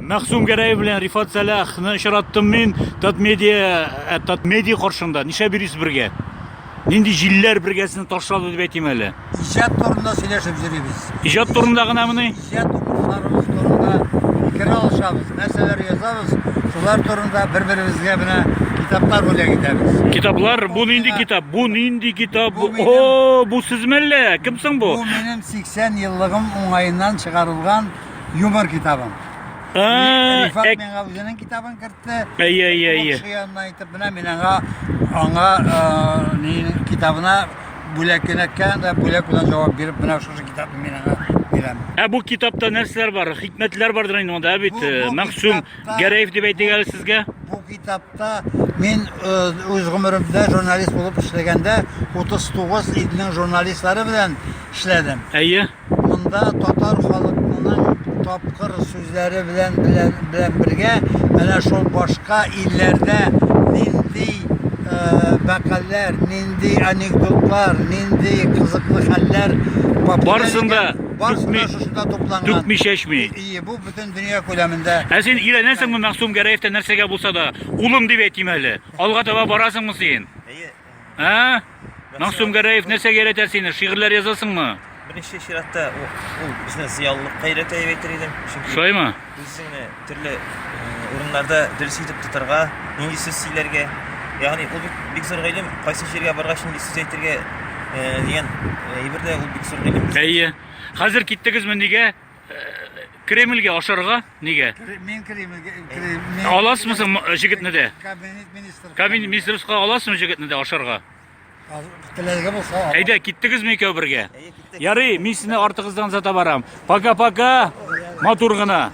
Мәхсүм Гәрәев белән Рифат Сәләхны очраттым мин Татмедиа ә, Татмедиа каршында. Нишләп йөрисез бергә? Нинди җилләр бергәсен ташлады дип әйтим әле. Иҗат турында сөйләшеп йөрибез. Иҗат турында гынамыни? Иҗат укучыларыбыз турында фикер алышабыз, нәрсәләр язабыз, шулар турында бер-беребезгә менә китаплар бүләк итәбез. Китаплар, бу нинди китап? Бу нинди китап? Бу минем- О, бу сезме әллә? Кем соң бу? Бу минем 80 еллыгым уңаеннан чыгарылган юмор китабын. Рифат әк... Миңгалҗының китабын кертте. Әй, әй, әй. Шул янына әйтеп, менә мин аңа, аңа ә, китабына бүләк кенәккән дә бүләк белән җавап биреп, менә шушы китапны мин аңа бирәм. Ә бу китапта нәрсәләр бар? Хикмәтләр бардыр инде монда, ә бит э, Мәгъсүм Гәрәев дип әйтик әле сезгә. Бу китапта мин э, үз гомеремдә журналист булып эшләгәндә 39 илнең журналистлары белән эшләдем. Әйе. Монда татар халыкнының тапкыр сүзләре белән белән бергә әнә шул башка илләрдә нинди мәкальләр, нинди анекдотлар, нинди кызыклы хәлләр Барсында барсында шушында тупланган. Түкми чәчми. Ие, бу бөтен дөнья күләмендә. Ә син өйрәнәсеңме Мәгъсум Гәрәевтән нәрсәгә булса да, улым дип әйтим әле. Алга таба барасыңмы син? Ә? Мәгъсүм Гәрәев нәрсә гәрәтә сине? Шигырьләр язасыңмы? Беренче чиратта ул безне зыялылыкка өйрәтә дип әйтер идем. Чөнки Шулаймы? Үзеңне төрле урыннарда дөрес итеп тотарга, нинди сүз сөйләргә, ягъни ул бик зур гыйлем, кайсы җиргә баргач нинди сүз әйтергә дигән әйбер дә ул бик зур гыйлем. Әйе. Хәзер киттегезме нигә? Кремльгә ашарга нигә? Мин Кремльгә Кремль. Аласызмы соң җегетне дә? Кабинет министры. Кабинет министрыска аласызмы җегетне дә ашарга? Теләге булса. Әйдә, киттегезме икәү бергә? Ярый, мин сезне артыгыздан зата барам. Пока-пока. Матур гына.